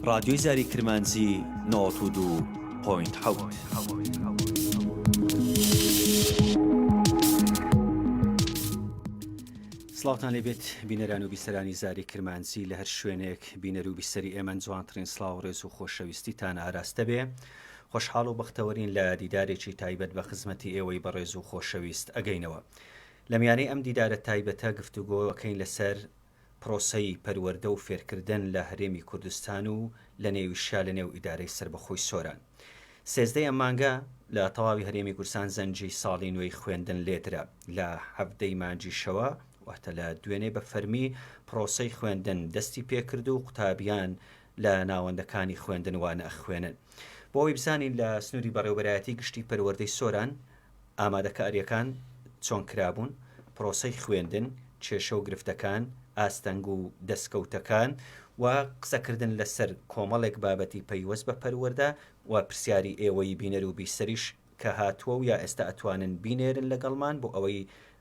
ڕادیۆی زاری کرمانجی نۆت و دوو پۆینت حەوت. سڵاوتان لێبێت بینەران و بیسەرانی زاری کرمانجی لە هەر شوێنێک بینەرو بیسەری ئێمەن جوانترین سڵاو ڕێزو خۆشەویستیتان ئاراستە بێ خۆشحاڵ و بەختەوەرین لە دیدارێکی تایبەت بە خزمەتی ئێوەی بەڕێزو خۆشەویست ئەگەینەوە لە میانەی ئەم دیدارە تایبەتە گفتوگۆ ئەکەین لەسەر پرۆسەی پەروەردە و فێرکردن لە هەرێمی کوردستان و لە نێویشیا لە نێو ئیدارەی سەربەخۆی سۆران. سێزدە ی ئەم مانگە لە تەواوی هەرێمی کوردستان زەنگی ساڵی نوێی خوێندن لێدرا. لە حەڤدە ی مانگیشەوە واتە لە دوێنێ بە فەرمی پرۆسەی خوێندن دەستی پێکرد و قوتابیان لە ناوەندەکانی خوێندن وانە ئەخوێنن. بۆ ئەوەی بزانین لە سنوری بەڕێوەبەرایەتی گشتی پەروەردەی سۆران ئامادەکارییەکان چۆن کرابوون، پرۆسەی خوێندن، کێشە و گرفتەکان، ئاستەنگ و دەستکەوتەکان و قسەکردن لەسەر کۆمەڵێک بابەتی پەیوەست بە پەروەردە و پرسیاری ئێوەی بینەر و بیسەریش کە هاتووە و یا ئێستا ئەتوانن بینێرن لەگەڵمان بۆ ئەوەی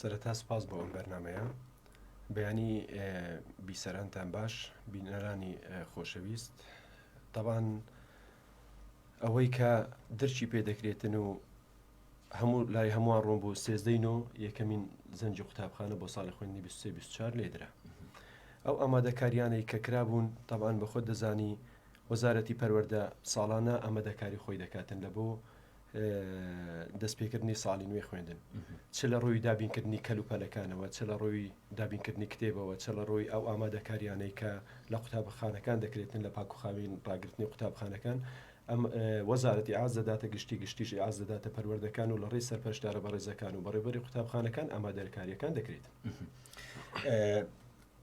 سەرەتا سوپاس بۆ ئەم بەرنامەیە. بەیانی بی سەرانتان باش بینەرانی خۆشەویست تەبان ئەوەی کە درچی پێ دەکرێتن و هەموو لای هەمووان ڕۆم بۆ سێزدەین و یەکەمین زەنجی قوتابخانە بۆ ساڵی خوێندنی 24 لێدرا ئەو ئامادەکاریانەی کە کرابوون تەبان بە خۆت دەزانی وەزارەتی پەروەەردە ساڵانە ئەمەدەکاری خۆی دەکاتن لە بۆ دەستپێکردنی ساڵی نوێی خوێندن چ لە ڕووی دابینکردنی کەل و پەلەکانەوە چ لە ڕووی دابینکردنی کتێبەوە چ لە ڕووی ئەو ئامادەکاریانەی کە لە قوتابخانەکان دەکرێتن لە پاکوخاوین ڕاگررتنی قوتابخانەکان ئەم وەزارەتی ئاز دەداتە گشتی گشتیژی ئاز دەداتە پەروەردەکان و لە ڕێی سەرپەشدارە بەڕێزەکان و بەڕێبەری قوتابخانەکان ئامادەرکاریەکان دەکرێت.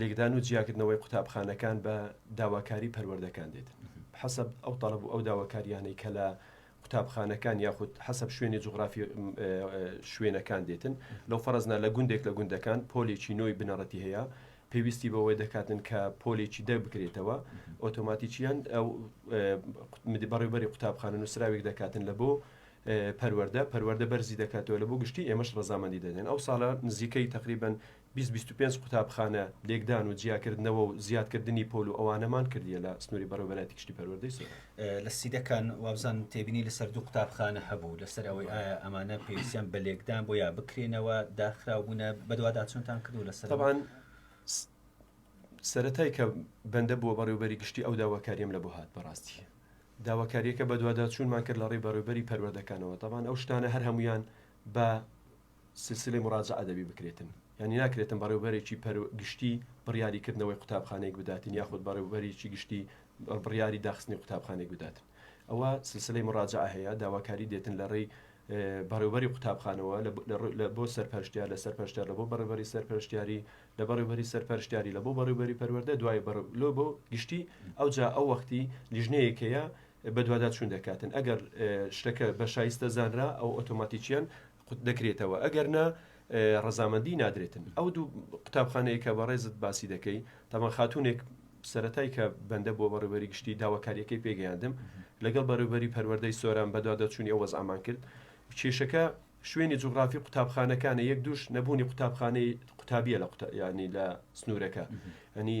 لێکدان و جیاکردنەوەی قوتابخانەکان بە داواکاری پەروەردەکان دێت حەسب ئەو تەڵب و ئەو داواکاریانەی کە لە قوتابخانەکان یاخود حەسب شوێنی جوگرافی شوێنەکان دێتن لەو فەرزنا لە گوندێک لە گوندەکان پۆلێکی نۆی بنەڕەتی هەیە پێویستی بەوەی دەکاتن کە پۆلێکی دە بکرێتەوە ئۆتۆماتیکیان ئەو مدی بەڕێوبەری قوتابخانە نووسراوێک دەکاتن لە بۆ پەروەەردە پەروەەردە بەرزی دەکاتەوە لە بۆ گشتی ئێمەش ڕزامەندی دەدەن ئەو ساڵە نزیکەی تقریبن بیست بیست و پێنج قوتابخانە لێکدان و جیاکردنەوە و زیادکردنی پۆل و ئەوانەمان کردیە لە سنوری بەڕێوەبەرایەتی گشتی پەروەردەی سۆران. لە سیدەکان وابزانم تێبینی لەسەر دوو قوتابخانە هەبوو لەسەر ئەوەی ئایا ئەمانە پێویستیان بە لێکدان بۆ یا بکرێنەوە داخراو بوونە بەدواداچونتان کردوو لەسەر تەبان سەرەتای کە بەندە بووە بەڕێوبەری گشتی ئەو داواکاریم لە بۆ هات بەڕاستی داواکاریەکە بەدواداچوونمان کرد لە ڕێی بەڕێوبەری پەروەردەکانەوە تەبان ئەو شتانە هەر هەمویان بە سلسلەی مراجعە دەبی بکرێتن یانی ناکرێتن بەڕێوبەرێکی پەرو گشتی بڕیاری کردنەوەی قوتابخانەیەک بداتن یاخود بەڕێوبەریی گشتی بڕیاری داخستنی قوتابخانەیەک بداتن ئەوە سلسلەی مراجعە هەیە داواکاری دێتن لە ڕێی بەڕێوبەری قوتابخانەوە لە بۆ سەرپەرشتیار لە سەرپەرشتیار لە بۆ بەڕێوبەری سەرپەرشتیاری لە بەڕێوبەری سەرپەرشتیاری لە بۆ بەڕێوبەری پەروەردە دوای بەڕ لۆ بۆ گشتی ئەو جا ئەو وەختی لیژنەیەکەیە بەدواداچوون دەکاتن ئەگەر شتەکە بە شایستە زانرا ئەو ئۆتۆماتیکیان قوت دەکرێتەوە ئەگەر نا ڕەزامەندی نادرێتن ئەو دوو قوتابخانەیە کە بەڕێزت باسی دەکەی تاوان خاتونێک سەتای کە بەندە بۆ بەڕێوەری گشتی داواکاریەکەی پێگەیاندم لەگەڵ بەڕێوەری پەروەەردەی سۆران بەدوا دەچوونی ئەو وەزعمان کرد کێشەکە شوێنی جوگرافی قوتابخانەکانە یەک دوش نەبوونی قوتابخانەی قوتابیە لە قوتابیانی لە سنوورەکە ئەنی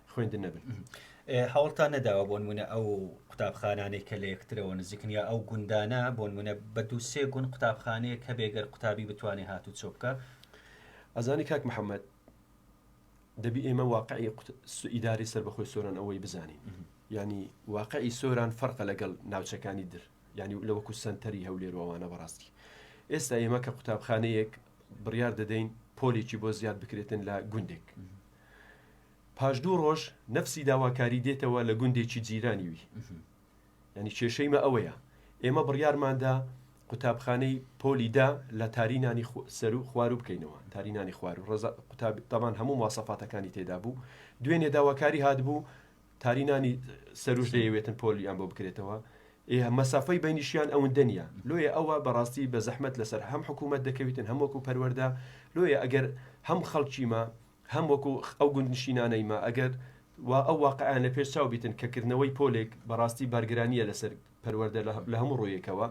خوێندن نەبن هەوڵتان نەداوە بۆن منە ئەو قوتابخانانێک کە لە یەکترەوە نزیکن یا ئەو گوندانە بۆن منە بە دوو سێ گوند قوتابخانەیە کە بێگەر قوتابی بتوانێت هات و چۆبکە ئەزانی کاک محەممەد دەبی ئێمە واقعی ئیداری سەر بەخۆی سۆران ئەوەی بزانین ینی واقعی سۆران فەرقە لەگەڵ ناوچەکانی در ینی لەوەکو سنتەری هەولێروانە بەڕاستی ئێستا ئێمە کە قوتابخانەیەک بڕیار دەدەین پۆلێکی بۆ زیاد بکرێتن لە گوندێک پاش دوو ڕۆژ نەفسی داواکاری دێتەوە لە گوندێکی جیرانی وی. یانی کێشەیمە ئەوەیە، ئێمە بڕیارماندا قوتابخانەی پۆلی دە لە تاری نانی سەرو خوارو بکەینەوە، تاری نانی خوارو ڕێزا قوتابی تەبان هەموو مواسەفاتەکانی تێدا بوو، دوێنێ داواکاری هاتبوو تاری نانی سەروش دەیەوێتن پۆلیان بۆ بکرێتەوە، ئێ مەسافەی بەینیشیان ئەوندە نیە، لۆیە ئەوە بە ڕاستی بە زەحمەت لەسەر هەم حکوومەت دەکەویتن هەم وەکوو پەروەردە، لۆیە ئەگەر هەم خەڵکیمە، هەم وەکو ئەو گوندنشینانەی مە ئەگەر وا ئەو واقعەیان لە پێش چاو بیتن کە کردنەوەی پۆلێک بە ڕاستی بارگرانییە لە سەر پەروەردە لە هەموو ڕوویەکەوە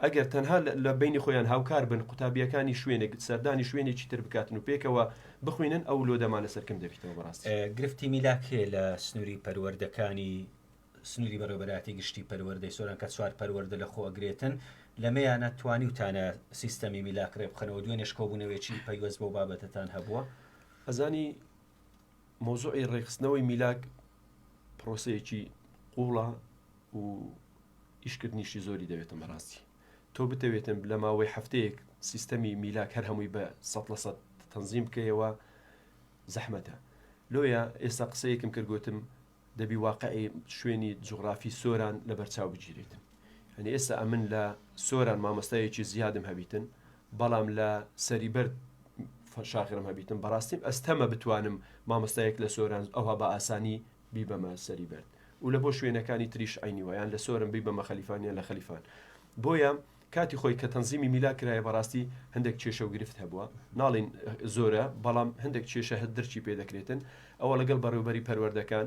ئەگەر تەنها لە بەینی خۆیان هاوکار بن قوتابییەکانی شوێنێک سەردانی شوێنێکی تر بکاتن و پێکەوە بخوینن ئەو لۆدەمانە سەرکم دەبیتەوە بە ڕاستی. گرفتی میلاک هەیە لە سنووری پەروەردەکانی سنوری بەڕێوەبەرایەتی گشتی پەروەردەی سۆران کە چوار پەروەردە لە خۆ ئەگرێتن لەمێیانە توانیوتانە سیستەمی میلاک رێ بخەنەوە دوێنێش کۆبونەوێکی پەیوەست بەو بابەتەتان هەبووە؟ ئەزانی مەوزوعی ڕێکخستنەوەی میلاک پرۆسەیەکی قوڵە و ئیشکردنیشی زۆری دەوێتم بەڕاستی تۆ بتەوێتم لە ماوەی هەفتەیەک سیستەمی میلاک هەر هەمووی بە سە لە سە تەنزیم بکەیەوە زەحمەتە لۆیە ئێستا قسەیەکم کردگوتم دەبی واقعی شوێنی جوغرافی سۆران لەبەرچاو بگیریت یانی ئێستا ئەمن لە سۆران مامۆستایەکی زیادم هەبیتن بەڵام لە سەری بەرد شاغرم هەبیتن بەڕاستیم ئەستەمە بتوانم مامۆستایەک لە سۆران ئەوها بە ئاسانی بیبەمە سەری بەرد و لە بۆ شوێنەکانی تریش عینی وایان لە سۆرم بیبەمە خەلیفانیان لە خەلیفان بۆیە کاتی خۆی کە تەنزیمی میلا کرایە بەڕاستی هەندێک کێشە و گرفت هەبووە ناڵێین زۆرە بەڵام هەندێک کێشە هەر درکی پێ دەکرێتن ئەوە لەگەڵ بەڕێوبەری پەروەردەکان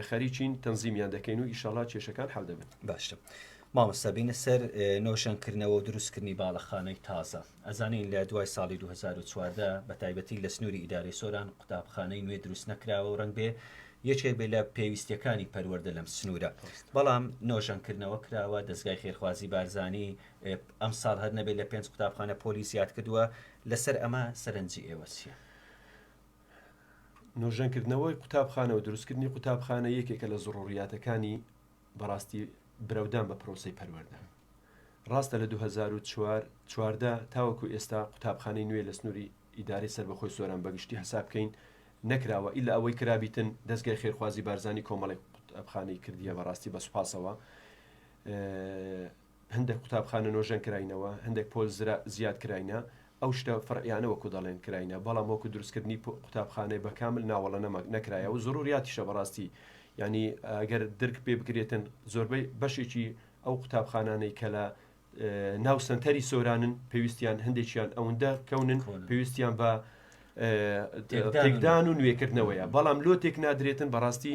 خەریکین تەنزیمیان دەکەین و ئیشەڵا کێشەکان حەل دەبن باشە مامۆستا بینە سەر نۆژەن کردنەوە و دروستکردنی باڵەخانەی تازە ئەزانین لە دوای ساڵی 2014 بە تایبەتی لە سنووری ئیدارەی سۆران قوتابخانەی نوێ دروست نەکراوە و ڕنگ بێ یەکێک بێت لە پێویستیەکانی پەروەردە لەم سنوورە بەڵام نۆژەنکردنەوە کراوە دەستگای خێرخوازی بارزانانی ئەم ساڵ هەر نەبێت لە پێنج قوتابخانە پۆلی زیاد کردووە لەسەر ئەمە سەرنجی ئێوەسیە نۆژەنکردنەوەی قوتابخانە و دروستکردنی قوتابخانە یەکێکە لە زڕوریاتەکانی بەڕاستی برەودان بە پرۆسەی پەروەردە. ڕاستە لە دوو هەزار و چوار چواردە تاوەکو ئێستا قوتابخانەی نوێ لە سنووری ئیدارەی سەربەخۆی سۆران بە گشتی حساب بکەین نەکراوە ئیلا ئەوەی کرابیتن دەزگای خێرخوازی بارزانی کۆمەڵێک قوتابخانەی کردیە بەڕاستی بە سوپاسەوە هەندێک قوتابخانە نۆژەن کراینەوە، هەندێک پۆل زرا زیاد کراینە، ئەو شتە فەرعیانە وەکو دەڵێن کراینە، بەڵام وەکو دروست کردنی پۆ قوتابخانەی بە کامل نا وەڵە نەما نەکرایە و زڕوریاتیشە بەڕاستی یانی گەر درک پێ بکرێتن زۆربەی بەشێکی ئەو قوتابخانانەی کە لە ناو سەنتەری سۆرانن پێویستیان هەندێکیان ئەوەندە کەونن پێویستیان بە تێکدان و نوێکردنەوەیە بەڵام لۆ تێک نادرێتن بەڕاستی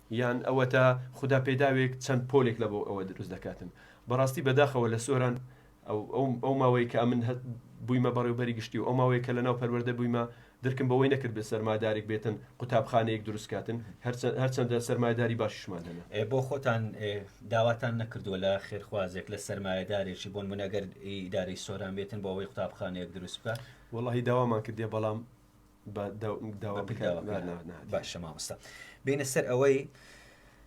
یان ئەوەتا خودا پێداوێک چەند پۆلێک لە بۆ ئەوە دروست دەکاتن بەڕاستی بەداخەوە لە سۆران ئەو ماوەی کە ئەمن بوویمە بەڕێوبەری گشتی و ئەو ماوەی کە لە ناو پەروەردە بوویمە درکم بەوەی نەکرد بێ سەرمادارێک بێتن قوتابخانەیەک دروست کاتن هەرچەندە سەرمایداری باشیشمان هەیە بۆ خۆتان داواتان نەکردووە لە خێرخوازێک لە سەرمایەدارێکی بۆن منەگەر ئیداری سۆران بێتن بۆ ئەوەی قوتابخانەیەک دروست بکە وڵی داوامان کردێ بەڵام باشە مامۆستا بینە سەر ئەوەی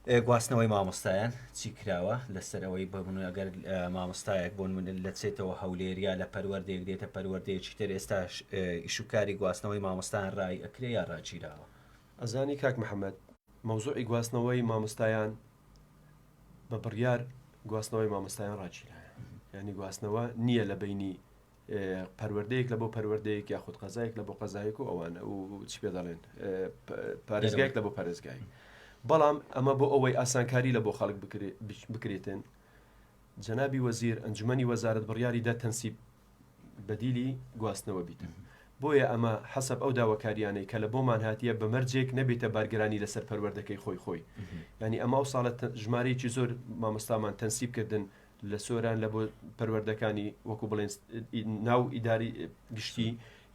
گواستنەوەی مامۆستایان چی کراوە لەسەر ئەوەی بەبن ئەگەر مامۆستایەک بۆن من لەچێتەوە هەولێریا لە پەروەردێک دێتە پەروەردەیەکی تر ئێستا ئیشوکاری گواستنەوەی مامۆستان ڕای ئەکرێ یا ڕاگیراوە ئەزانی کاک محەممەد مەوزوعی گواستنەوەی مامۆستایان بە بڕیار گواستنەوەی مامۆستایان ڕاگیرایە ینی گواستنەوە نییە لە بینی پەروەردەیەک لە بۆ پەروەردەیەک یاخود قەزایەک لە بۆ قەزایەک و ئەوانە و چی پێ دەڵێن پارێزگایەک لە بۆ پارێزگای بەڵام ئەمە بۆ ئەوەی ئاسانکاری لە بۆ خەڵک بکرێتن جەنابی وەزیر ئەنجومی وەزارت بڕیاری دا تەنسیب بەدیلی گواستنەوە بیتن بۆیە ئەمە حەسب ئەو داواکاریانەی کە لە بۆمان هاتیە بەمەرجێک نەبێتە بارگرانی لەسەر پەروەردەکەی خۆی خۆی ینی ئەمە و ساڵە ژمارەیەکی زۆر مامۆستامان تەنسیبکردن لە سۆران لە بۆ پەروەردەکانی وەکو بڵێن ناو ئیداری گشتی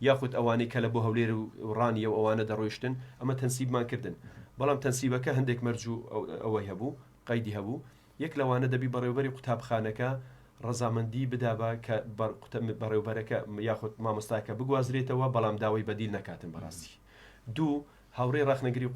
یاخود ئەوانەی کە لە بۆ هەولێر و ڕانیە و ئەوانە دەڕۆیشتن ئەمە تەنسیبمان کردن بەڵام تەنسیبەکە هەندێک مەرج و ئەوەی هەبوو قەیدی هەبوو یەک لەوانە دەبی بەڕێوبەری قوتابخانەکە ڕەزامەندی بدابا کە بەڕێوبەرەکە یاخود مامۆستاکە بگوازرێتەوە بەڵام داوای بەدیل نەکاتن بەڕاستی دوو هاوڕێ ڕخنەگری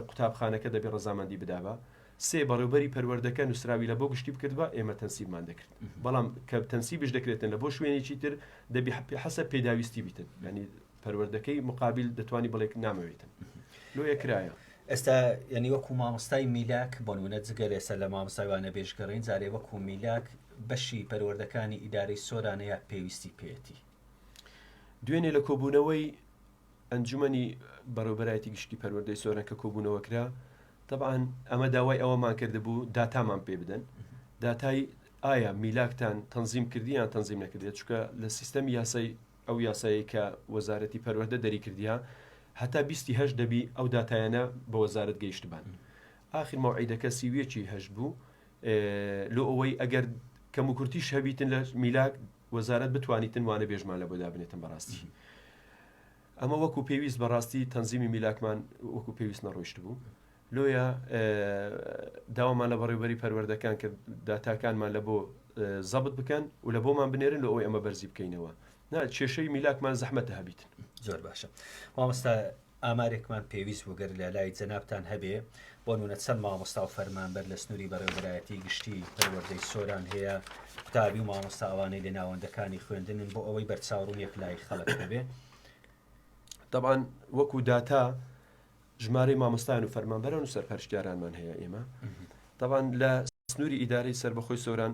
قوتابخانەکە دەبێ ڕزامەندی بدابا سێ، بەڕێوبەری پەروەردەکە نوسراوی لە بۆ گشتی بکردبا ئێمە تەنسیبمان دەکرد بەڵام کە تەنسیبش دەکرێتن لە بۆ شوێنێکی تر دەبی حەسە پێداویستی بیتن یانی پەروەردەکەی مقابل دەتوانی بڵێ نامەوێتن لۆیە کرایە ئێستا یعنی وەکو مامۆستای میلاک بۆنمونە جگە لێسەر لە مامۆستای وانە بێژگەڕین جارێ وەکو میلاک بەشی پەروەردەکانی ئیدارەی سۆرانەیە پێویستی پێێتی دوێنێ لە کۆبوونەوەی ئەنجومەنی بەڕێوەبەرایەتی گشتی پەروەردەی سۆران کە کۆبوونەوە کرا تەبعان ئەمە داوای ئەوەمان کردبوو داتامان پێ بدەن داتای ئایا میلاکتان تەنزیم کردیان تەنزیم نەکردێت چکە لە سیستەم یاسای ئەو یاسایی کە وەزارەتی پەروەەردە دەری کردیا هەتا بیستی هەش دەبی ئەو دااتایانە بە وەزارت گەیشتبان ئاخر مەعیدەکە سیویەکی هەش بوو لۆ ئەوەی ئەگەر کەم و کورتیش هەبیتن لە میلاک وەزارەت بتوانیتن وانە بێژمان لەبۆ دابنێتن بەڕاستی ئەمە وەکو پێویست بەڕاستی تەنزیمی میلاکمان وەکو پێویست نەڕۆیشت بوو لۆیە داوامان لە بەڕێوبەری پەروەردەکان کە داتاکانمان لە بۆ زەبت بکەن و لە بۆمان بنێرن لە ئەوی ئەمە بەرزی بکەینەوە نا کێشەی میلاکمان زەحمەتە هەبیت زۆر باشە مامۆستا ئامارێکمان پێویست بوو گەر لە لای جەنابتان هەبێ، بۆ نموونە چەند مامۆستا و فەرمانبەر لە سنووری بەڕێوەبەرایەتیی گشتیی پەروەردەی سۆران هەیە، قوتابی و مامۆستا ئەوانەی لە ناوەندەکانی خوێندنن، بۆ ئەوەی بەرچاوڕوونییەک لای خەڵک هەبێ. تەبعەن وەکوو داتا ژمارەی مامۆستایان و فەرمانبەران و سەرپەرشتیارانمان هەیە ئێمە تەبعەن لە سنووری ئیدارەی سەربەخۆی سۆران،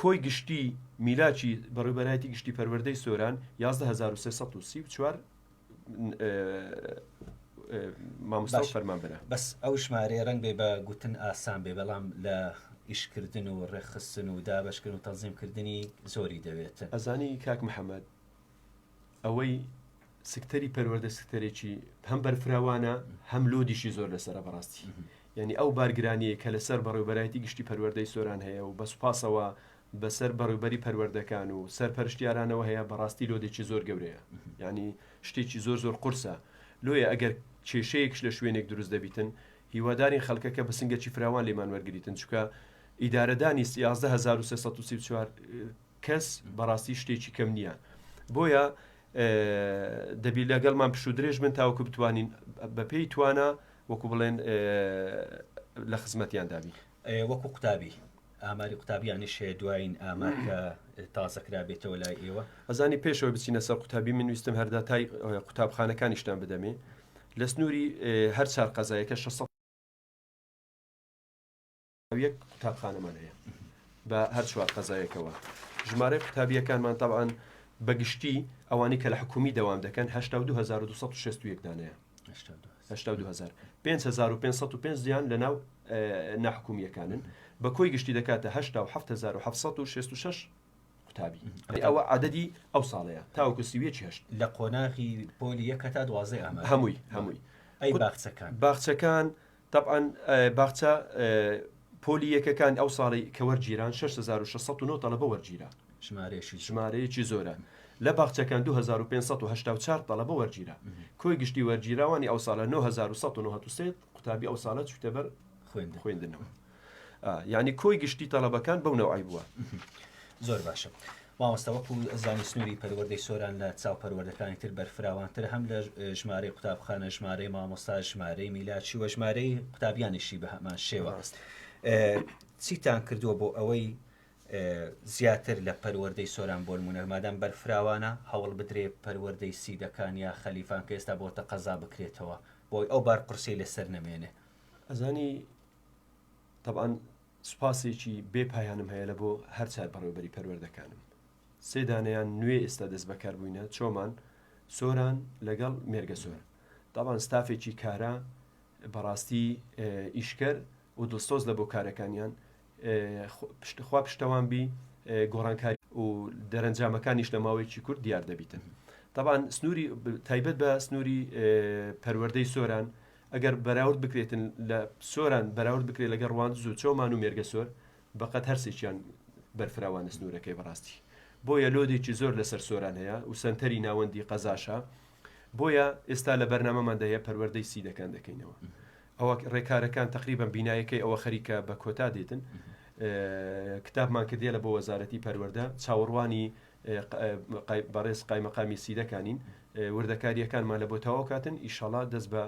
کۆی گشتی میلاکی بەڕێوبەرایەتی گشتی پەروەردەی سۆران یازدە هەزار و سێ سەد و سی و چوار مامۆستا و باش. فەرمانبەرە بەس ئەو ژمارەیە ڕەنگ بێ بە گوتن ئاسان بێ بەڵام لە ئیشکردن و ڕێکخستن و دابەشکردن و تەنزیم کردنی زۆری دەوێت. ئەزانی کاک محەمەد ئەوەی سکتەری پەروەردە سکتەرێکی هەم بەرفراوانە هەم لۆدیشی زۆر لەسرە بەڕاستی یعنی ئەو بارگرانیە کە لەسەر بەڕێوبەرایەتی گشتی پەروەردەی سۆران هەیە و بەسوپاسەوە بەسەر بەڕێوبەری پەروەردەکان و سەرپەرشتیارانەوە هەیە بەڕاستی لۆدێکی زۆر گەورەیە یعنی شتێکی زۆر زۆر قرسە لۆیە ئەگەر کێشەیەکش لە شوێنێک دروست دەبیتن هیوادارین خەڵکەکە بە سنگەکی فراوان لێمان وەرگتن چکە ئیدارەدانی 11334 کەس بەڕاستی شتێکی کەم نییە بۆیە دەبی لەگەڵمان پشت و درێژ من تاوکو بتوانین بەپێی توانە وەکو بڵێن لە خزمەتیان دابی وەکو قوتابی ئاماری قوتابیانیش هەیە دوایین ئامار کە تازەکرا بێتەوە لای ئێوە ئەزانی پێشەوە بچینە سەر قوتابی من ویستم هەردا تای قوتابخانەکانیشتان بدەمێ لە سنووری هەر چار قەزایەکە 600 یەک قوتابخانەمان هەیە بە هەر چوار قەزایەکەوە ژمارەی قوتابیەکانمان تاوان بەگشتی ئەوانی کە لە حکومی دەوام دەکەن 1962 دانەیە 5 زیان لە ناو ناحکومیەکانن بە کۆی گشتی دەکاتە 1970 قوتابی ئەوە عادەدی ئەو ساڵەیە تاوکو سیوێکی هەشت لە قۆناغی پۆلی یەکە تا دوازێ ئەمە هەمووی هەمووی ئەی باخچەکان باخچەکان تەبعەن باخچە پۆلی یەکەکان ئەو ساڵی کە وەرگیران 6609 تەڵەبە وەرگیرا ژمارەیەکی ژمارەیەکی زۆرە لە باخچەکان 2584 تەڵەبە وەرگیرا کۆی گشتی وەرگیراوانی ئەو ساڵە 9193 قوتابی ئەو ساڵە چوتە بەر خوێندنەوە ئا یانی کۆی گشتی تەڵەبەکان بەو نەوعەی بووە. زۆر باشە مامۆستا وەکو زانی سنوری پەروەردەی سۆران لە چاو پەروەردەکانی تر بەرفراوانتر هەم لە ژمارەی قوتابخانە ژمارەی مامۆستا ژمارەی میلاچی وە ژمارەی قوتابیانیشی بە هەمان شێوە چیتان کردووە بۆ ئەوەی زیاتر لە پەروەردەی سۆران بۆ نمونە مادام بەرفراوانە هەوڵ بدرێ پەروەردەی سیدەکان یا خەلیفان کە ئێستا بۆتە قەزا بکرێتەوە بۆی ئەو بار قورسی لەسەر نەمێنێ ئەزانی تەبعەن سوپاسێکی بێ پایانم هەیە لەبۆ هەر چار بەڕێوەبەری پەروەردەکانم. سێ دانەیان نوێ ئێستا دەست بەکار بووینە، چۆمان، سۆران لەگەڵ مێرگەسۆر. تەبعەن ستافێکی کارا بەڕاستی ئیشکەر و دڵسۆز لە بۆ کارەکانیان، خوا پشتەوان بی، گۆڕانکاری و دەرەنجامەکانیش لە ماوەیەکی کورت دیار دەبیتن. تەبعەن سنووری، تایبەت بە سنووری پەروەردەی سۆران، ئەگەر بەراورد بکرێتن لە سۆران بەراورد بکرێت لەگەڵ ڕواندز و چۆمان و مێرگەسۆر بەقەد هەرسێکیان بەرفراوانە سنوورەکەی بەڕاستی بۆیە لۆدێکی زۆر لەسەر سۆران هەیە و سەنتەری ناوەندی قەزاشە بۆیە ئێستا لە بەرنامەماندا هەیە پەروەردەی سیدەکان دەکەینەوە ئەوە ڕێکارەکان تقریبا بینایەکەی ئەوە خەریکە بە کۆتا دێتن کتابمان کردیە لە بۆ وەزارەتی پەروەەردە چاوەڕوانی بەڕێز قایمەقامی سیدەکانین وردەکاریەکانمان لەبۆ تەواو کاتن ئیشەڵا دەست بە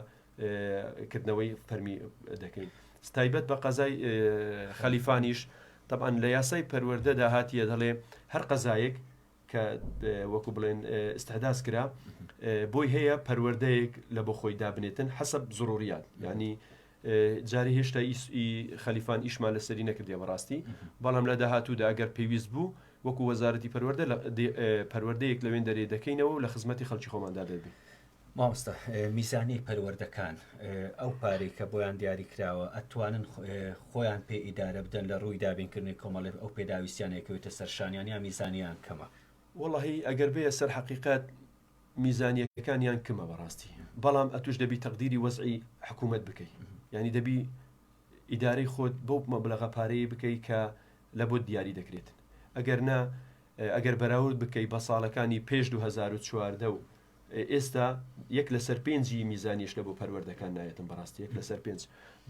کردنەوەی فەرمی دەکەین ستایبەت بە قەزای خەلیفانیش طبعاً لە یاسای پەروەردەدا هاتیە دەڵێ هەر قەزایەک کە وەکو بڵێن استحداس کرا بۆی هەیە پەروەردەیەک لە بۆ خۆی دابنێتن حەسب زڕوریات ینی جارێ هێشتا ئی ئی خەلیفان ئیشمان لەسەری نەکردیە بەڕاستی بەڵام لە داهاتوودا ئەگەر پێویست بوو وەکو وەزارەتی پەروەردە لە پەروەردەیەک لەوێن دەرێ دەکەینەوە و لە خزمەتی خەڵکی خۆماندا دەبێ مامۆستا میزانی پەروەردەکان ئەو پارەی کە بۆیان دیاری کراوە ئەتوانن خۆیان پێ ئیدارە بدەن لە ڕووی دابینکردنی کۆمەڵێ ئەو پێداویستیانێکەوەێتە سەرشانیان یا میزانیان کەمە وڵی ئەگەر بێ سەر حقیقت میزانیەکانیان کمە بەڕاستی بەڵام ئەتوش دەبی تەقدیری وەزعی حکومەت بکەی یانی دەبی ئیدارەی خۆت بەو مەبلەغە پارەیە بکەی کە لە بۆت دیاری دەکرێت ئەگەر نا ئەگەر بەراورد بکەی بە ساڵەکانی پێش 2014 و ئێستا یەک لەسەر پێنجی میزانیش لە بۆ پەروەردەکان نایەتم بەڕاستی یەک لەسەر پێنج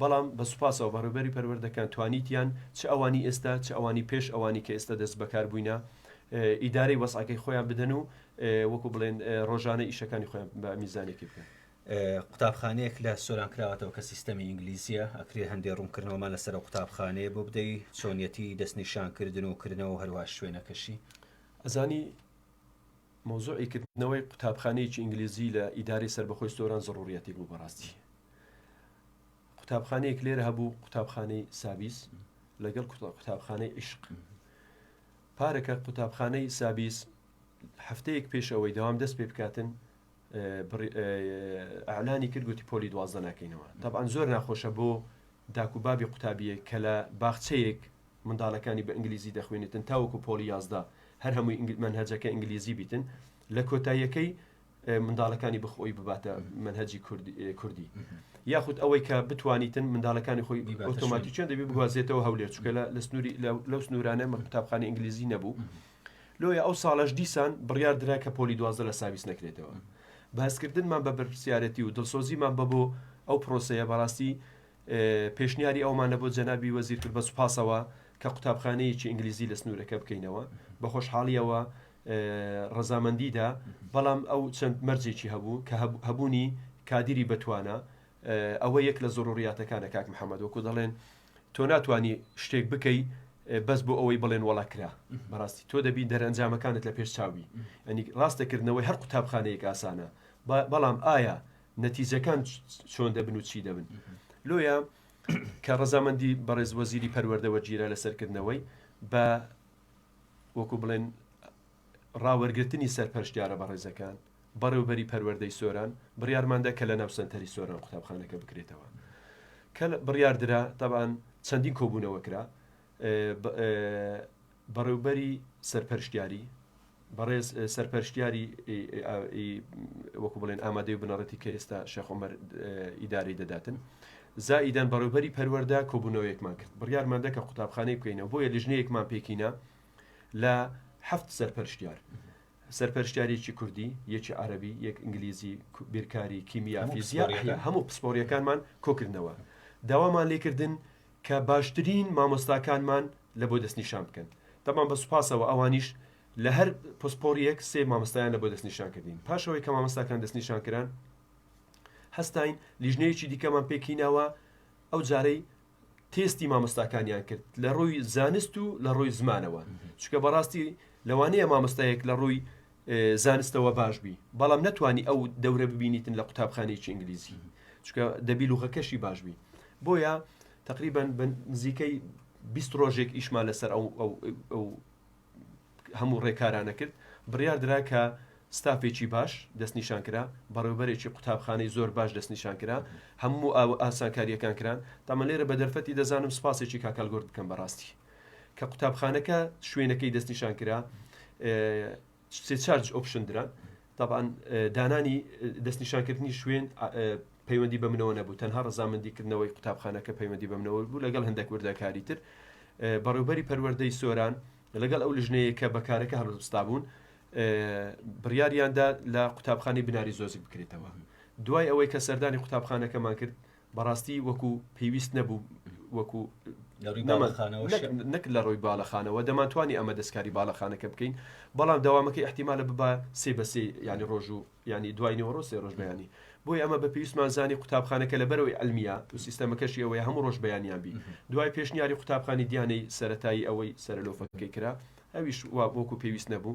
بەڵام بە سوپاسەوە بەڕێبەری پەروەردەکان توانیتیان چ ئەوانی ئێستا چ ئەوانی پێش ئەوانی کە ئێستا دەست بەکار بووینە ئیدارەی وەسعەکەی خۆیان بدەن و وەکو بڵێن ڕۆژانە ئیشەکانی خۆیان بە میزانێکی بکەن. قوتابخانەیەک لە سۆران کراوەتەوە کە سیستەمی ئینگلیزیە ئەکرێ هەندێ ڕوونکردنەوەمان لەسەر ئەو قوتابخانەیە بۆ بدەی چۆنیەتی دەستنیشانکردن و کردنەوە هەروە شوێنەکەشی ئەزانی مۆزوعی کردنەوەی قوتابخانەیەکی ئینگلیزی لە ئیداری سربەخۆی سۆران زڕوریەتی بوو بەڕاستی قوتابخانەیەک لێرە هەبوو قوتابخانەی سابیس لەگەڵ قوتابخانەی عیشق پارەکە قوتابخانەی سابیس هەفتەیەک پێش ئەوەی دەوام دەست پێ بکاتن ئالانی کرد گوتی پۆلی دوازدە ناکەینەوە تەبان زۆر ناخۆشە بۆ داک و بابی قوتابیە کە لە باخچەیەک منداڵەکانی بە ئینگلیزی دەخوێنێتن تاوەکو پۆلی یازدا هەر هەمووی من هەجەکە ئینگلیزی بیتن لە کۆتاییەکەی منداڵەکانی بخۆی بباتە منهجی کوردی یاخود ئەوەی کە بتوانیتن منداڵەکانی خۆی ئۆتۆماتی چێن دەبی بگوازێتەوە هەولێر چکە لە سنووری لەو سنوورانە مە قوتابخانی ئینگلیزی نەبوو لۆیە ئەو ساڵەش دیسان بڕیار درا کە پۆلی دوازە لە ساویس نەکرێتەوە بەسکردنمان بە بەرپسیارەتی و دڵسۆزیمان بە بۆ ئەو پرۆسەیە بەڕاستی پێشنیاری ئەومانە بۆ جەنابی وەزیر کرد بە سوپاسەوە کە قوتابخانەیەکی ئینگلیزی لە سنوورەکە بکەینەوە بە خۆشحاڵیەوە ڕەزامەندیدا، بەڵام ئەو چەند مەرجێکی هەبوو کە هەبوونی کادیری بەتوانا، ئەوە یەک لە زۆروڕیاتەکانە کاک محەمەد، وەکو دەڵێن تۆ ناتوانی شتێک بکەی بەس بۆ ئەوەی بڵێن وەڵا کرا، بەڕاستی تۆ دەبی دەرئەنجامەکانت لە پێش چاو بی، یانی ڕاستە کردنەوەی هەر قوتابخانەیەک ئاسانە، بەڵام ئایا نەتیجەکان چۆن دەبن و چی دەبن؟ لۆیە کە ڕەزامەندی بەڕێز وەزیری پەروەردە وەرگیرا لەسەر کردنەوەی، بە. وەکو بڵێن ڕاوەرگرتنی سەرپەرشتیارە بەڕێزەکان، بەڕێوبەری پەروەردەی سۆران، بڕیارمان دا کە لەناو سەنتەری سۆران قوتابخانەکە بکرێتەوە. کە بڕیار درا، تەبعەن چەندین کۆبوونەوە کرا، بەڕێوبەری سەرپەرشتیاری، بەڕێز سەرپەرشتیاری ی وەکو بڵێن ئامادەی و بنەڕەتی کە ئێستا شێخ عومەر ئیدارەی دەداتن زائیدەن بەڕێوبەری پەروەردە کۆبونەوەیەکمان کرد بڕیارماندا کە قوتابخانەی بکەینەوە بۆیە لیژنەیەکمان پێکینا لە حەفت سەرپەرشتیار سەرپەرشتیارێکی کوردی یەکی عربی یەک ئینگلیزی بیرکاری کیمیا فیزیا هەموو پسپۆریەکانمان کۆکردنەوە داوامان لێکردن کە باشترین مامۆستاکانمان لە بۆ دەستنیشان بکەن تەبعەن بە سوپاسەوە ئەوانیش لە هەر پسپۆریەک سێ مامۆستایان لە بۆ دەستنیشان کردین پاش ئەوەی کە مامۆستاکان دەستنیشان کران هەستاین لیژنەیەکی دیکەمان پێکیناوە ئەو جارەی تێستی مامۆستاکانیان کرد لە ڕووی زانست و لە ڕووی زمانەوە چکە بەڕاستی لەوانەیە مامۆستایەک لە ڕووی زانستەوە باش بی بەڵام نەتوانی ئەو دەورە ببینیتن لە قوتابخانەیەکی ئینگلیزی چکە دەبی لوغەکەشی باش بی بۆیە تقریبان نزیکەی 20 ڕۆژێک ئیشمان لەسەر ئەو هەموو ڕێکارانە کرد بڕیار درا کە ستافێکی باش دەستنیشان کرا بەڕێوبەرێکی قوتابخانەی زۆر باش دەستنیشان کرا هەموو ئاسانکاریەکان کران تامە لێرە بە دەرفەتی دەزانم سپاسێکی کاکەلگرد بکەم بەڕاستی کە قوتابخانەکە شوێنەکەی دەستنیشان کرا سێ چارج ئۆپشن دران طبعاان دانانی دەستنیشانکردنی شوێن پەیوەندی بە منەوە نەبوو تەنها ڕزامەندیکردنەوەی قوتابخانەکە پەیوەندی بەمنەوە بوو لەگەڵ هەندێک وردەکاری تر بەڕێوبەری پەروەردەی سۆران لەگەڵ ئەو لژنەیە کە بەکارەکە هەڵستا بوون بڕیاریاندا لە قوتابخانی بناری زۆزی بکرێتەوە دوای ئەوەی کە سەردانی قوتابخانەکەمان کرد بەڕاستی وەکو پێویست نەبوو وەکو نەک لە ڕووی باڵەخانەوە دەمانتوانی ئەمە دەستکاری باڵەخانەکە بکەین بەڵام داوامەکەی احتیمالە ببە سێ بەسێ ینی ڕۆژ و ینی دوای نێوەڕۆ سێ ڕۆژ بەیانی بۆی ئەمە بە پێویستمان زانی قوتابخانەکە لە بەرەوەی ئەلمیا و سیستەمەکەشی ئەوەیە هەموو ڕۆژ بەیانیان بی دوای پێشنیاری قوتابخانی دیانەی سەتایی ئەوەی سەرلۆفەکەی کرا ئەویش وا بۆکو پێویست نەبوو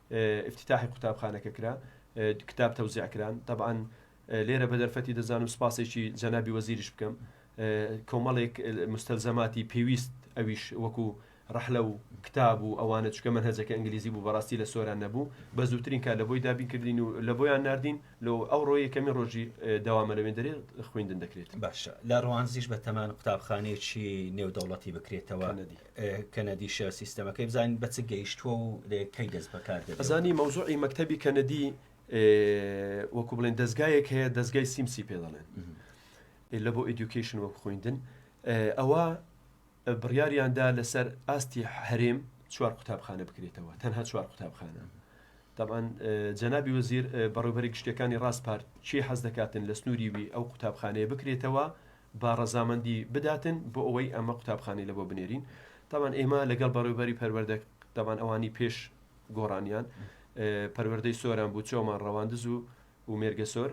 ئیفتیتاحی قوتابخانەکە کرا کتاب تەوزیع کران تەبعەن لێرە بە دەرفەتی دەزانم سوپاسێکی جەنابی وەزیریش بکەم کۆمەڵێک مستەلزەماتی پێویست ئەویش وەکو ڕەحلە و کتاب و ئەوانە چکە من هەزەکە ئەنگلیزی بوو بەڕاستی لە سۆران نەبوو بە زووترین کار لە بۆی دابین کردین و لە بۆیان نردین لۆ ئەو ڕۆیە کەمی ڕۆژی داوامە لەوێن دەرێ خوێندن دەکرێت باشە لە ڕوانزیش بە تەمان قوتابخانەیەکی نێودەوڵەتی بکرێتەوە نەدی کەنەدی شێر سیستەمەکەی بزانین بە چ گەیشتووە و کەی دەست بەکار دەبێت. ئەزانی مەوزوعی مەکتەبی کەنەدی وەکو بڵێن دەزگایەک هەیە دەزگای سیمسی پێ دەڵێن لە بۆ ئیدوکیشن وەک خویندن ئەوە بڕیاریاندا لەسەر ئاستی هەرێم چوار قوتابخانە بکرێتەوە تەنها چوار قوتابخانە طبعاان جەنابی وەزیر بەڕێوبەری گشتەکانی ڕاست پارت چی حەز دەکاتن لە سنووری وی ئەو قوتابخانەیە بکرێتەوە با ڕەزامەندی بداتن بۆ ئەوەی ئەمە قوتابخانەی لەبۆ بنێرین تابان ئێمە لەگەڵ بەڕێوبەری پەروەردە دەبان ئەوانی پێش گۆڕانیان پەروەردەی سۆران بوو چۆمان ڕەواندز و و مێرگەسۆر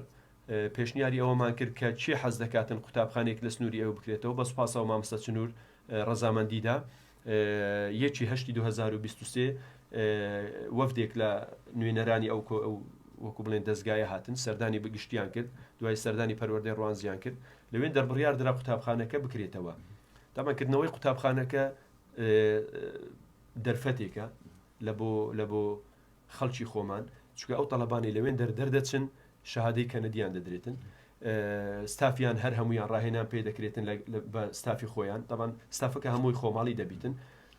پێشنیاری ئەوەمان کرد کە چی حەز دەکاتن قوتابخانێک لە سنووری ئەو بکرێتەوە بەس پاسەوە مامسە چنوور ڕەزامەندیدا یەکی هەشتی دوو هەزار و بیست و سێ وەفدێک لە نوێنەرانی ئەو وەکو بڵێن دەزگایە هاتن سەردانی بگشتیان کرد دوای سەردانی پەروەردەی ڕوانزیان کرد لەوێن دەربڕیار درا قوتابخانەکە بکرێتەوە دامەکردنەوەی قوتابخانەکە دەرفەتێکە لە بۆ لە بۆ خەڵکی خۆمان چونکە ئەو تەڵەبانەی لەوێن دەر دەردەچن شەهادەی کەنەدیان دەدرێتن ستافیان هەر هەمویان ڕاهێنان پێ دەکرێتن بە ستافی خۆیان دەبان ستافەکە هەمووی خۆماڵی دەبیتن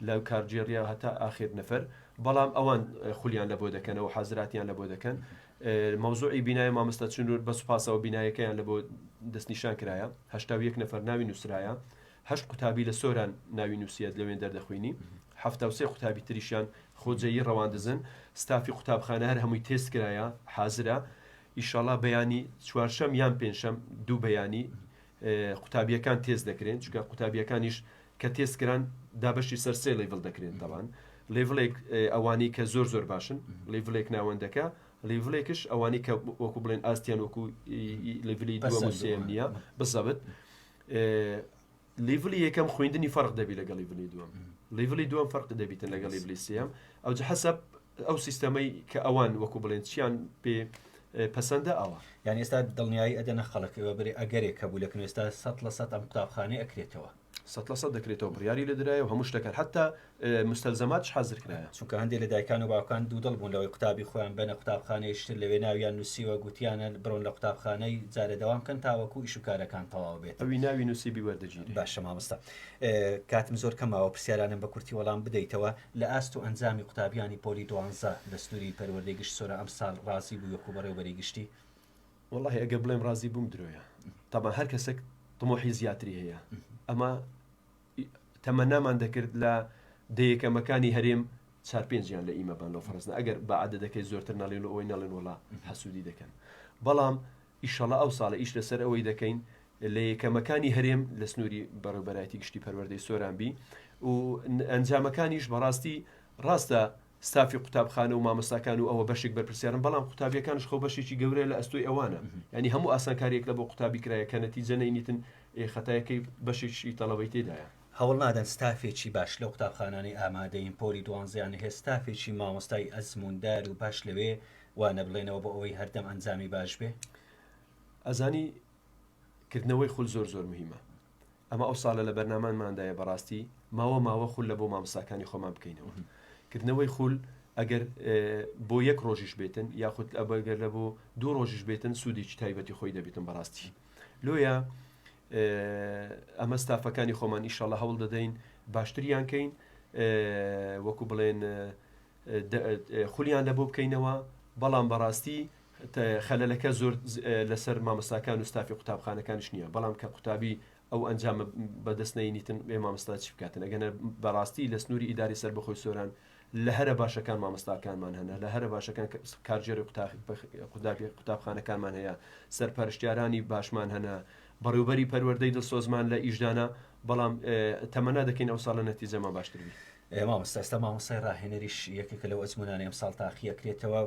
لە کارجێڕیا هەتا ئاخر نەفەر بەڵام ئەوان خولیان لە بۆ دەکەنەوە حەزراتیان لە بۆ دەکەن مەوزوعی بینای مامەستا چنور بە سوپاسەوە بینایەکەیان لە بۆ دەستنیشان کرایە هەشتا یەک نەفەر ناوی نووسرایە هەشت قوتابی لە سۆران ناوی نووسیت لەوێن دەردەخوینی حەفتا و سێ قوتابی تریشیان خۆجێیی ڕەواندزن ستافی قوتابخانە هەر هەمووی تێست کرایە حازرە ئیشاڵا بەیانی چوارشەم یان پێنجشەم دوو بەیانی قوتابیەکان تێست دەکرێن چکە قوتابیەکانیش کە تێست کران دابەشی سەر سێ لەیڤڵ دەکرێن تەوان لێڤڵێک ئەوانەی کە زۆر زۆر باشن لێڤلێک ناوەندەکە لێڤلێکش ئەوانەی کە وەکو بڵێن ئاستیان وەکو لێڤلی دووەم و سێم نییە بزەبت لیڤلی یەکەم خویندنی فەرق دەبی لەگە لیڤلی دووەم لیڤلی دووەم فەرق دەبیتن لەگە لیڤلی سم ئەو حەسب ئەو سیستەمەی کە ئەوان وەکو بڵێن چیان پێ پەسەندە ئەوە یان ئێستا دڵنیایی ئەدەنە خەڵکەوە بێ ئەگەرێک کە بوو لەکن ئێستا سە لە سە ئەم قوتابخانەی ئەکرێتەوە سە لە سە دەکرێتەوە بڕیاری لە درایە و هەموو شتەکە حتا مستەلزەماتش حازر کرایە. چونکە هەندێ لە دایکان و باوکان دوودڵ بوون لەوەی قوتابی خۆیان بەنە قوتابخانەیەکی تر لەوێ ناویان نووسیوە، گوتیانە برۆن لە قوتابخانەی جارێ دەوام کەن تاوەکوو ئیش و کارەکان تەواو بێت. ئەوی ناوی نووسیبی وەردەگیرێ. باشە مامۆستا. کاتم زۆر کەم ماوە پرسیارانم بە کورتی وەڵام بدەیتەوە. لە ئاست و ئەنجامی قوتابیانی پۆلی دوانزە دەستووری پەروەردەی گشت سۆران ئەمساڵ ڕازی بووی وەکوو بەڕێوەبەری گشتی؟ وەڵاهی ئەگەر بڵێم ڕازی بووم درۆیە. تەبعەن هەر کەسێک تموحی زیاتری هەیە. ئەمە تەمەنامان دەکرد لە دە یەکەمەکانی هەرێم چار پێنجیان لە ئیمە بان لەو فەرزنە ئەگەر بە عددەکەی زۆرتر نەڵێن و ئەوەی نەڵێن وڵا حەسوودی دەکەن بەڵام ئیشەڵا ئەو ساڵە ئیش لەسەر ئەوەی دەکەین لە یەکەمەکانی هەرێم لە سنووری بەڕێوبەرایەتی گشتی پەروەردەی سۆرانبی و ئەنجامەکانیش بەڕاستی ڕاستە ستافی قوتابخانە و مامۆستاکان و ئەوە بەشێک بەرپرسیارن بەڵام قوتابیەکانش خۆ بەشێکی گەورەیە لە ئەستۆی ئەوانە یانی هەموو ئاسانکاریەک لە بۆ قوتابی کرایە کە نەتیجە نەینیتن ئێ خەتایەکەی بەشێکی تەڵەبەی تێدایە. هەوڵ نادەن ستافێکی باش لەو قوتابخانانەی ئامادەین پۆلی دوانزەیان هەیە ستافێکی مامۆستای ئەزمووندار و باش لەوێ وانە بڵێنەوە بۆ ئەوەی هەردەم ئەنجامی باش بێ. ئەزانی کردنەوەی خول زۆر زۆر مهیمە ئەمە ئەو ساڵە لە بەرنامانماندایە بەڕاستی ماوە ماوە خول لە بۆ مامساکانی خۆمان بکەینەوە کردنەوەی خول ئەگەر بۆ یەک ڕۆژیش بێتن یاخود ئەبگەر لە بۆ دوو ڕۆژیش بێتن سوودێکی تایبەتی خۆی دەبێتن بەڕاستی لۆیە ئەمە ستافەکانی خۆمان ئیشەڵە هەوڵ دەدەین باشتریان کەین وەکو بڵێن خولیان لە بۆ بکەینەوە بەڵام بەڕاستی خەلەلەکە زۆر لەسەر مامۆستاکان و ستافی قوتابخانەکانیش نیە بەڵام کە قوتابی ئەو ئەنجامە بەدەست نەینیتن بێ مامۆستا چی بکاتن ئەگەنە بەڕاستی لە سنوری ئیداری سەربەخۆی سۆران لە هەرە باشەکان مامۆستاکانمان هەنە لە هەرە باشەکان کارژێری قوتابخانەکانمان هەیە سەرپەرشتیارانی باشمان هەنە بەڕێوبەری پەروەردەی دڵسۆزمان لە ئیشدانە بەڵام تەمەنا دەکەین ئەو ساڵە نەتیجەمان باشتر بی. مامۆستا ئێستا مامۆستای ڕاهێنەریش یەکێکە لەو ئەزموونانەی ئەمساڵ تاقی ئەکرێتەوە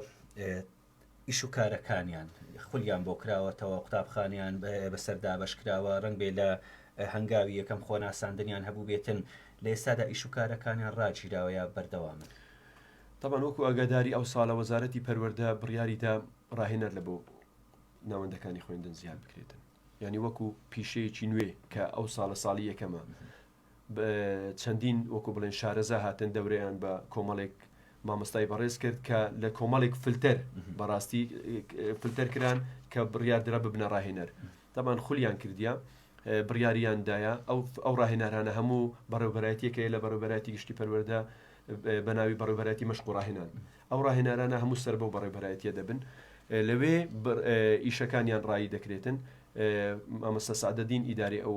ئیش و کارەکانیان خولیان بۆ کراوەتەوە قوتابخانیان بەسەر دابەش کراوە ڕەنگ بێ لە هەنگاوی یەکەم خۆناساندنیان هەبوو بێتن لە ئێستادا ئیش و کارەکانیان ڕاگیراوەیە بەردەوامن طبعا وەکو ئاگاداری ئەو ساڵە وەزارەتی پەروەردە بڕیاریدا ڕاهێنەر لە بۆ ناوەندەکانی خوێندن زیاد بکرێتن ینی وەکو پیشەیەکی نوێ کە ئەو ساڵە ساڵی یەکەمە چەندین وەکو بڵێن شارەزا هاتن دەورەیان بە کۆمەڵێک مامۆستای بەڕێز کرد کە لە کۆمەڵێک فلتەر بەڕاستی فلتەر کران کە بڕیاردرا ببنە ڕاهێنەر دەمان خولیان کردیا بڕیاریان دایە ئەو ئەو ڕاهێنارانە هەموو بەڕێوبەرایەتەکەی لە بەڕێوبەراتی گشتی پەروەەردە بە ناوی بەڕێوبەراتی مەشق و ڕاهێنان ئەو ڕاهێنارانە هەموو سەر بەو بەڕێوبەرایەتیە دەبن لەوێ ئیشەکانیان ڕایی دەکرێتن، مامۆستا سەعدەدین ئیدارەی ئەو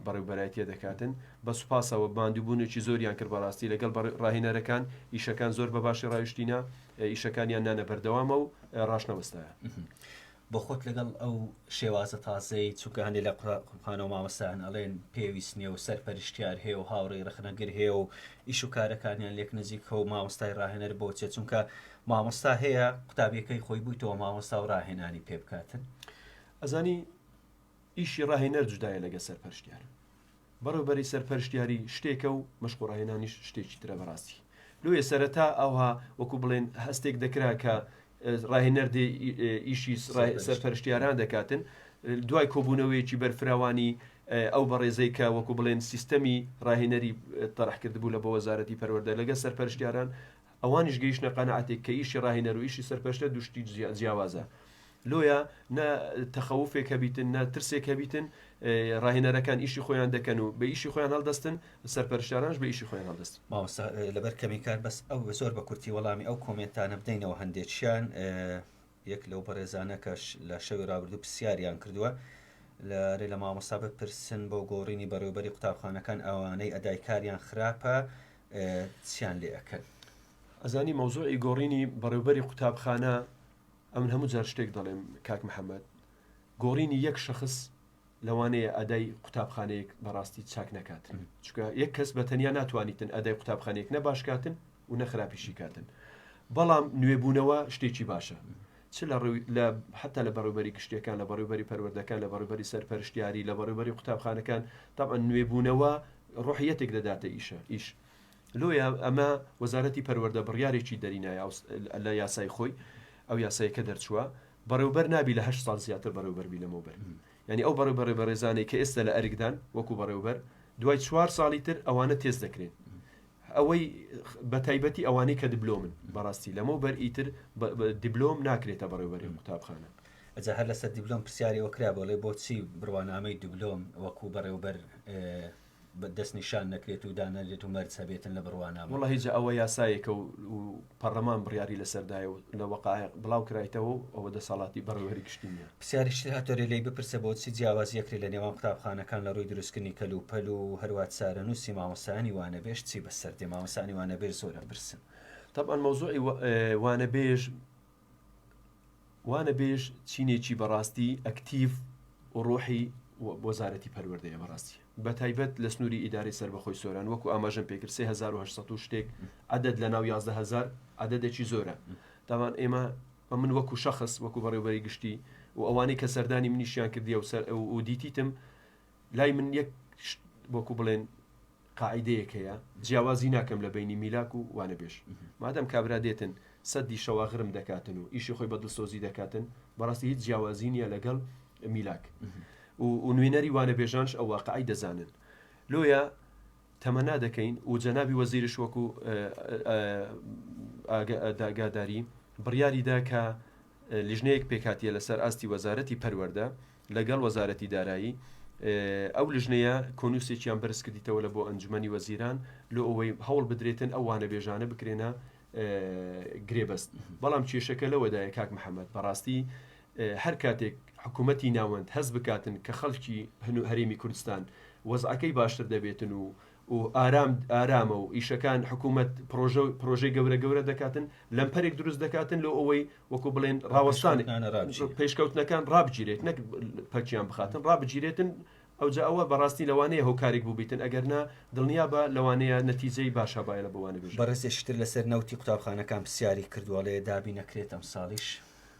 بەڕێوبەرایەتیە دەکاتن، بە سوپاسەوە ماندووبوونێکی زۆریان کرد بەڕاستی لەگەڵ ڕاهێنەرەکان ئیشەکان زۆر بەباشی ڕایشتینە ئیشەکانیان نانە بەردەوامەو ڕاشنەوەستایە. بۆ خۆت لەگەڵ ئەو شێوازە تازەی چونکە هەندێ لە قوتابخانە و مامۆستایان ئەڵێن پێویست نیە و سەرپەرشتیار هەیە و هاوڕێی ڕەخنەگر هەیە و ئیش و کارەکانیان لێک نزیکە و مامۆستای ڕاهێنەر بۆ چیە چونکە مامۆستا هەیە قوتابیەکەی خۆی بویتەوە مامۆستا و ڕاهێنانی پێ بکاتن ئەزانی ئیشی ڕاهێنەر جودایە لەگە سەرپەرشتیار بەڕێوبەری سەرپەرشتیاری شتێکە و مەشق و ڕاهێنانیش شتێکی ترە بەڕاستی لۆیە سەرەتا ئاوها وەکو بڵێن هەستێک دەکرا کە ڕاهێنەر دێ ئیشی سەرپەرشتیاران دەکاتن دوای کۆبوونەوەیەکی بەرفراوانی ئەو بەڕێزەی کە وەکو بڵێن سیستەمی ڕاهێنەری تەرح کردبوو لە بۆ وەزارەتی پەروەردە لەگە سەرپەرشتیاران ئەوانیش گەیشتە قەناعەتێک کە ئیشی ڕاهێنەر و ئیشی سەرپەرشتە دوو شتی جیاوازە لۆیە نە تەخەوفێک هەبیتن نە ترسێک هەبیتن ڕاهێنەرەکان ئیشی خۆیان دەکەن و بە ئیشی خۆیان هەڵدەستن سەرپەرشتارانش بە ئیشی خۆیان هەڵدەستن مامۆستا لەبەر کەمی کات بەس ئەو زۆر بە کورتی وەڵامی ئەو کۆمێنتانە بدەینەوە هەندێکیان یەک لەو بەڕێزانە کەش لە شەوی ڕابردوو پرسیاریان کردووە لە رێ لە مامۆستا بپرسن بۆ گۆڕینی بەڕێوبەری قوتابخانەکان ئەوانەی ئەدای کاریان خراپە چیان لێ ئەکەن؟ ئەزانی مەوزوعی گۆڕینی بەڕێوبەری قوتابخانە ئەمن هەموو جار شتێک دەڵێم کاک محمد گۆڕینی یەک شەخس لەوانەیە ئەدای قوتابخانەیەک بەڕاستی چاک نەکاتن چکە یەک کەس بە تەنیا ناتوانیتن ئەدای قوتابخانەیەک نە باشکاتن و نەخراپیشی کاتن بەڵام نوێبوونەوە شتێکی باشە چ لە ڕوی لە حتا لە بەڕێوبەری گشتیەکان لە بەڕێوبەری پەروەردەکان لە بەڕێبەری سەرپەرشتیاری لە بەڕێبەری قوتابخانەکان تاعا نوێبوونەوە ڕحیەتێک دەداتە ئیشە ئیش لۆیە ئەمە وەزارەتی پەروەردە بڕیارێکی دەرینایە لە یاسای خۆی ئەو یاسایەکە دەرچووە بەڕێوبەر نابی لە هەشت ساڵ زیاتر بەڕێوبەربی لەمەوبەر ینی ئەو بەڕێ بەڕێ بەڕێزانەی کە ئێستا لە ئەرکدان وەکو بەڕێوبەر دوای چوار ساڵی تر ئەوانە تێز دەکرێن ئەوەی بە تایبەتی ئەوانەی کە دبلۆمن بەڕاستی لەمە بەر ئیتر دیبلۆم ناکرێتە بەڕێوەری قوتابخانە ئەجا هەر لەسەر دیبلۆم پرسیاری وەکرا بۆڵێ بۆچی بڕوانامەی دیبلۆم وەکو بەڕێوبەر دەست نیشان نەکرێت و دانەنرێت و مەرج هەبێتن لە بڕوانامە. وەڵا هیجا ئەوە یاسایەکە و پەڕلەمان بڕیاری لەسەر دایە و لە وەقایع بڵاو کرایتەوە و ئەوە دەسەڵاتی بەڕێوەری گشتی نیە. پسیاریش تر هاتۆرێ لێی بپرسە بۆچی جیاوازیەکرێ لە نێوان قوتابخانەکان لە ڕووی دروستکردنی کەل و پەل و هەروا چارەنووسی مامۆستایانی وانەبێژ چی بەسەر دێ مامۆستایانی وانەبێژ زۆر ئەپرسن. تەبعەن مەوزوعی وانەبێژ وانەبێژ چینێکی بەڕاستی ئەکتیڤ و ڕۆحی وەزارەتی پەروەردەیە بەڕاستی بەتایبەت لە سنووری ئیدارەی سربەخۆی سۆران وەکو ئاماژەم پێکرد 3800 شتێک عدد لە ناو 11000 عددێکی زۆرە داوان ئێمە و من وەکو شخص وەکو بەڕێوبەری گشتی و ئەوانەی کە سەردانی منیشیان کردی و سەر و دیتیتم لای من یەک وەکو بڵێن قاعیدەیەک هەیە جیاوازی ناکەم لە بەینی میلاک و وانەبێژ مادام کابرا دێتن سەددی شەواغرم دەکاتن و ئیشی خۆی بە دڵسۆزی دەکاتن بەڕاستی هیچ جیاوازی نییە لەگەڵ میلاک و نوێنەری وانەبێژانش ئەو واقعی دەزانن لۆیە تەمەنا دەکەین و جەنابی وەزیرش وەکو ئاگاداری بڕیاریدا کە لیژنەیەک پێکهاتیە لەسەر ئاستی وەزارەتی پەروەردە لەگەڵ وەزارەتی دارایی ئەو لیژنەیە کۆنووسێکیان بەرز کردیتەوە لە بۆ ئەنجومەنی وەزیران لۆ ئەوەی هەوڵ بدرێتن ئەو وانەبێژانە بکرێنە گرێبەست بەڵام کێشەکە لەوەدایە کاک محەممەد بەڕاستی هەر کاتێک حکوومەتی ناوەند هەز بکاتن کە خەڵکی هەنوو هەرێمی کوردستان وەزعەکەی باشتر دەبێتن و و ئارام ئارامە و ئیشەکان حکوومەت پڕۆژە و پڕۆژەی گەورە گەورە دەکاتن، لەمپەرێک دروست دەکاتن لۆ ئەوەی وەکوو بڵێن ڕاوەستان پێشکەوتنەکان ڕابگیرێت نەک پەکیان بخاتن ڕابگیرێتن، ئەوجا ئەوە بەڕاستی لەوانەیە هۆکارێک بووبیتن ئەگەر نا دڵنیا بە لەوانەیە نەتیجەی باش هەبایە بۆ وانە بێژم. بەڕێزێکی تر لەسەر نەوتی قوتابخانەکان پرسیاری کردووە ئەڵێ دابینەکرێت ئەمساڵیش؟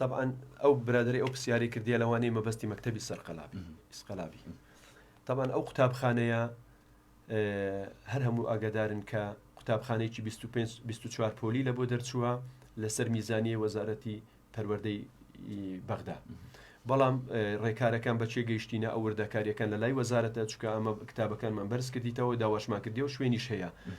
تەبعەن ئەو برادەرەی ئەو پرسیارەی کردیە لەوانەیە مەبەستی مەکتەبی سەرقەلا بی ئیسقەلا بی تەبعەن ئەو قوتابخانەیە هەر هەموو ئاگادارن کە قوتابخانەیەکی 25 24 پۆلی لە بۆ دەرچووە لەسەر میزانیە وەزارەتی پەروەردەی بەغدا بەڵام ڕێکارەکان بەچێ گەیشتینە ئەو وردەکاریەکان لە لای وەزارەتە چکە ئەمە کتابەکانمان بەرز کردیتەوە داواشمان کردی و شوێنیش هەیە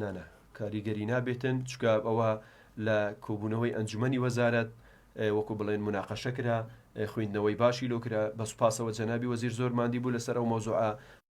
نا نا کاریگەری نابێتن چکە ئەوە لە کۆبوونەوەی ئەنجومەنی وەزارەت وەکو بڵێن مناقەشە کرا خوێندنەوەی باشی لۆ کرا بە سوپاسەوە جەنابی وەزیر زۆر ماندی بوو لەسەر ئەو مەوزوعە